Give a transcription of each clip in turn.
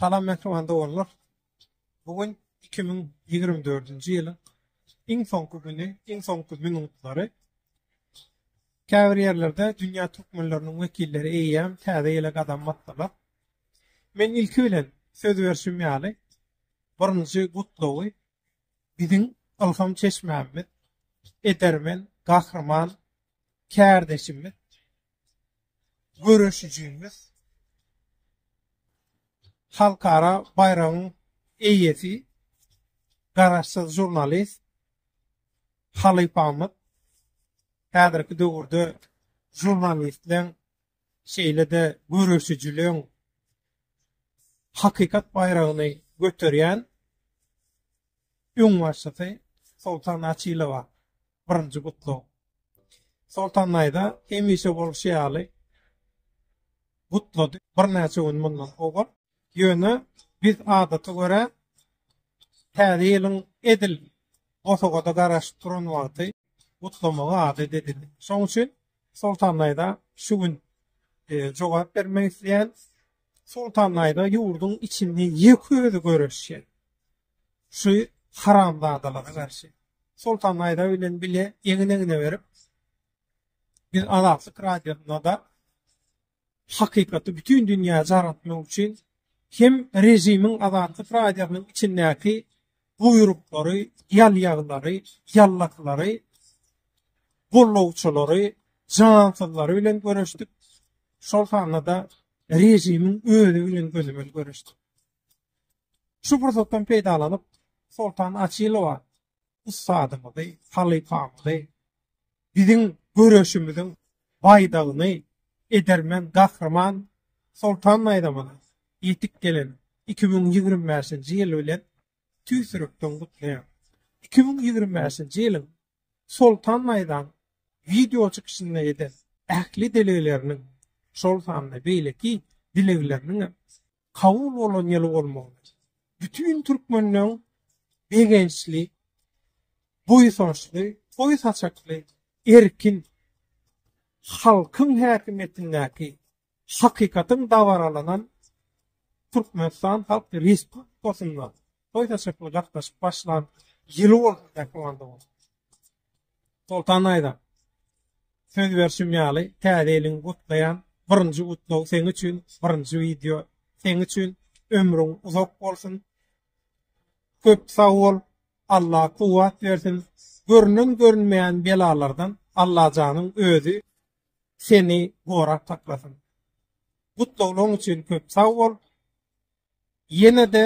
Salam mähriban doganlar. Bu gün iki müň ýigrimi dördünji ýylyň iň soňky güni, iň soňky minutlary. Käbir ýerlerde dünýä türkmenleriniň wekilleri eýýäm täze ýyla gadam basdylar. Men ilki bilen söz berşim ýaly, birinji gutlagy biziň ylham çeşmämiz, edermen Gahryman kärdeşimiz, göreşijimiz, halkara baýragyň eýesi, garaşsyz žurnalist halypamyz häzirki döwürde žurnalistleň şeýle-de göreşijiligiň hakykat baýragyny göterýän öňbaşçysy Soltan Açylowa birinji gutlag. Soltan daýza hemişe bolşy ýaly gutlady birnäçe gün mundan owal. Ýöne biz adata görä Täze ýylyň edil bosagada garaşyp duran wagty gutlamagy adat edindik. Şonuň üçin Soltanlaýda şu gün jogap bermek isleýän Soltanlaýda ýurduň içinde ýek özi göreşýän şu haramzadalara garşy Soltanlaýda bilen bile egin-egne berip biz Azatlyk radiosyna da hakykaty bütin dünýä jar etmek üçin hem režimiň Azatlyk Radiosynyň içindäki buýruklary, ýalýaglary, ýallaklary, gollawçylary, jansyzlary bilen göreşdik. Şol sanda-da režimiň özi bilen gözümel görüşdi. Şu pursatdan peýdalanyp, Soltan Açylowa ussadymyzy, halypamyzy, biziň göreşimiziň baýdagyny edermen Gahryman Soltan Naýzamana ýetip gelen iki müň ýigrimi bäşinji ýyl bilen tüýs ýürekden gutlaýaryn. Iki müň ýigrimi bäşinji ýylyň Soltan Naýzam wideo çykyşynda eden ähli dilegleriniň, şol sanda beýleki dilegleriniň hem kabul bolan ýyly bolmagyny, bütin türkmenleň begençli, buýsançly, toý saçakly, erkin halkyň häkimiýetindäki hakykatyň dabaralanan Türkmenistan Halk Respublikasynda toý saçakly gatnaşyp başlan ýyly bolsun diýip, Soltan Aýza, söz berşim ýaly Täze ýylyňy gutlaýan, birinji gutlag seň üçin, birinji wideo seň üçin, ömrüň uzak bolsun, köp sag bol, Alla kuwwat bersin, görünen görünmeýän belalardan Allajanyň özi seni gorap saklasyn. Gutlaglaň üçin köp sag bol, ýene-de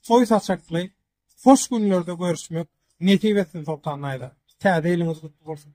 toý saçakly Hoş günlerde görüşmek nesip etsin Soltan Naýza. Täze ýylyňyz gutly bolsun.